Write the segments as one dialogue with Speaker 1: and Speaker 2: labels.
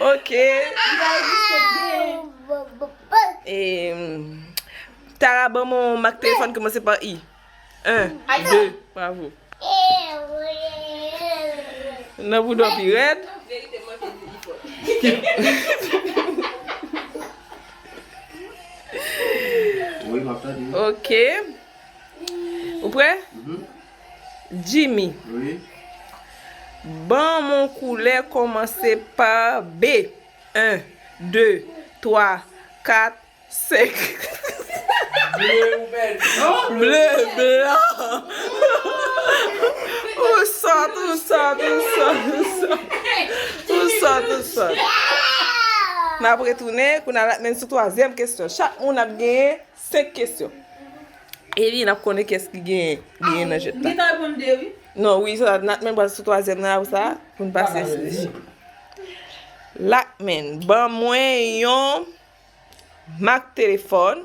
Speaker 1: Ok
Speaker 2: Tara ban mwen yon mak telefòn ki kòmanse pa I Nan boudò pi rèd
Speaker 3: Ok
Speaker 2: Ou prè? Jimmy. Wi. Ban m on koulè kòmanse pa B. 1, 2, 3, 4, 5. Ble ou pèdi. Ble, blan. Ou sòt, ou sòt, ou sòt, ou sòt. Ou sòt, ou sòt. N ap retounen, kou n a la men sou twazyèm kesyon. Chak moun ap genyen. 5 kesyon Eline ap konnen kès ki genyen Genyen nan jèt la Li ta reponn
Speaker 4: 2 wi Non wi sa Nat
Speaker 2: men pral sou twazyèm nan apre sa Pou n pase sou dechè Lakmen ban mwen yon Mak telefòn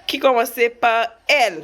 Speaker 2: Ki kòmanse pa L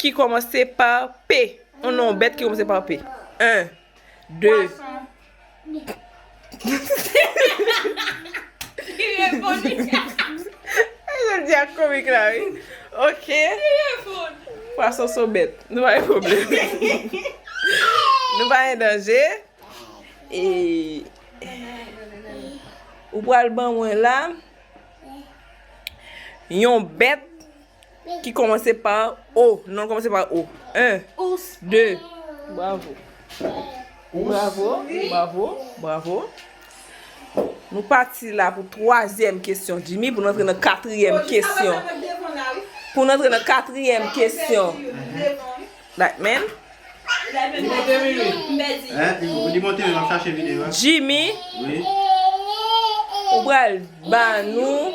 Speaker 2: Ki kòmanse pa p. On non bèt ki kòmanse pa p. 1,
Speaker 5: 2. Pwason
Speaker 2: son bèt. Nou pa gen pwoblèm. Nou pa gen danje. E. Ou pral ban mwen la. Yon bèt. Ki kòmanse pa O. Non l kòmanse pa O. 1, 2. Bravo. Bravo. Bravo. Bravo. Nou pati la pou twazyèm kesyon Jimmy pou nou antre nan katriyèm kesyon. Pou nou antre nan katriyèm kesyon. Lightman.
Speaker 3: Jimmy.
Speaker 2: Ou pral ba nou.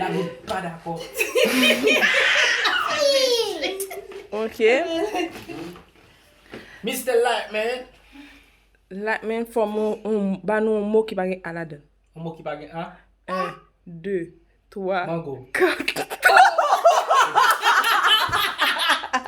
Speaker 1: Lavi pa dakò.
Speaker 2: Ok.
Speaker 1: Mister Lightman.
Speaker 2: Lightman fò mwen yon, ba nou yon mo ki pa gen a ladan. Yon mo ki pa gen a? 1,
Speaker 1: 2, 3,
Speaker 2: 4. Mango.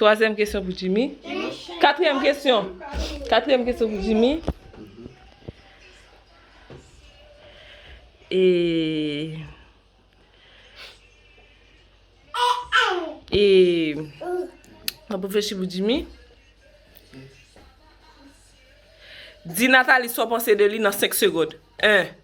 Speaker 2: Twazyèm kesyon pou Jimmy. Katriyèm kesyon. Katriyèm kesyon pou Jimmy. E. E. Mwen pou fèchi pou Jimmy. Di Nathalie sa w panse de li nan 5 segond. 1.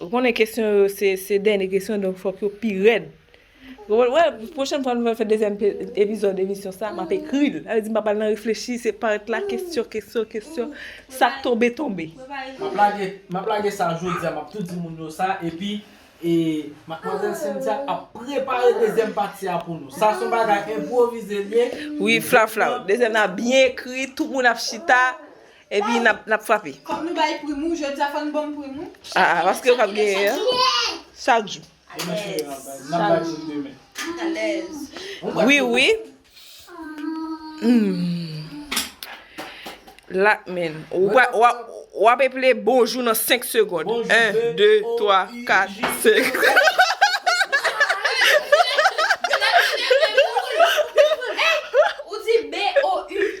Speaker 2: Ou konnen kesyon yo se dènye kesyon donk fòk yo pi rèd. Wè, pwochèn fwa nou va fè dezyèm epizòd emisyon sa, m ap ekri l. Sa vle di m pa pral nan reflechi, se parèt la kesyon, kesyon, kesyon, sa k tonbe tonbe.
Speaker 1: M ap lage sa jodi a, m ap tou di moun yo sa epi madmwazèl Cynthia ap prepare dezyèm pati a pou nou. Sa son bagay enpwovize l ye. Wi, flafla,
Speaker 2: dezyèm nan byen ekri, tout moun ap chita, Epi nap nap frape. Fok nou bay prim ou
Speaker 4: jodi a fok nou banm prim ou. Ah ah paske yo pap
Speaker 2: genyen an. Chak jou. Alèz.
Speaker 5: Wi wi.
Speaker 2: La men. Wap eple bonjou nan 5 segond. 1, 2, 3, 4,
Speaker 5: 5. Ou di BOU.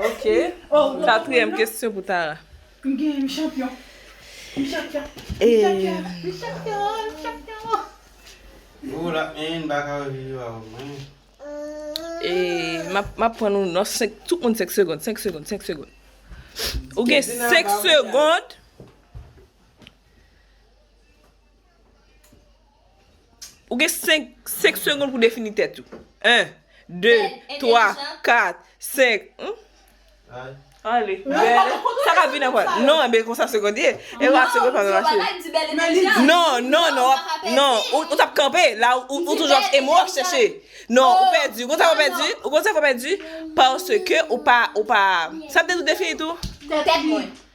Speaker 2: Ok, katriyèm kesyon pou Tara. M ap pran nou nan senk, tout moun senk segond, senk segond, senk segond. Ou gen senk segond. Ou gen 5 5 segond pou defini tèt ou 1 2 3 4 5 humm Ale belle Sa ka vin aprè Non enben konsa segond ye E wa segond pa menm mache Non non non wap Non ou tap kanpe la ou ou toujou ap e mo wap chèche Non ou pèdi ou konn sa fè w pèdi ou konn sa fè w pèdi Paske ou pa ou pa Sa m te di w defini tou Tèt mwen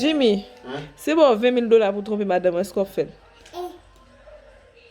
Speaker 4: Jimmy,
Speaker 2: si yo ba w 20 mil dola pou w twonpe madanm ou, èske w ap fè l?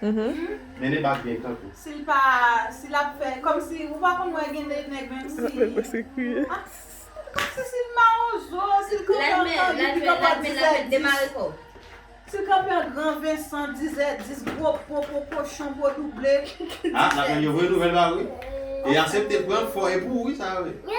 Speaker 3: Mennen bak byen kanpe. Si l pa,
Speaker 4: si l ap fè, kòm si, ou pa konn wè gen de nèg menm si. Lap fè pwese kriye. A, kòm si si l
Speaker 5: mawozo,
Speaker 4: si l kanpe
Speaker 5: an gran vin pito
Speaker 4: pa dizè
Speaker 5: dis.
Speaker 4: Si l kanpe an gran vin san dizè dis gwo po, po kochon, po double. A, nap tann yo
Speaker 3: voye nouvèl ba ou wi. E asepte pran fò e pou ou wi sa yo ye.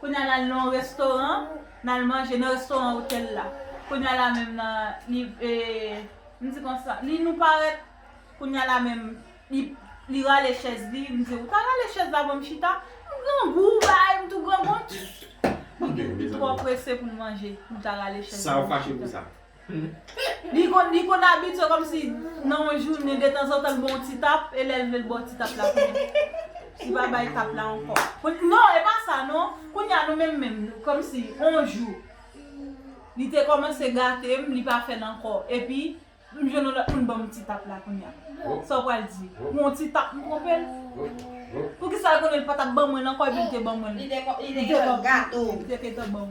Speaker 4: Kounye a nal nan yon restoran nal manje nan restoran otèl la kounye a la menm nan li m di konsa li nou parèt kounye a la menm li rale chèz li m di ou ta rale chèz la banm chita m grangou ou bay m tou grangou m twò prese pou m manje m ta rale chèz la banm chita. Li konn abitye kòmsi nan yon jounen detanzantan l ba w yon ti tap e lè l vle l ba w ti tap la kounye a li pa bay tap la ankò. Non e pa sa non kounye a nou menm menm kòmsi yon jou li te kòmanse gate m li pa fè l ankò epi m jwenn yon lòt moun ban m ti tap la kounye a sa w pral di pou yon ti tap m twonpe l? Poukisa l konnen l pa t ap ban mwen l ankò epi l te ban mwen l? Li te konn
Speaker 5: gate w.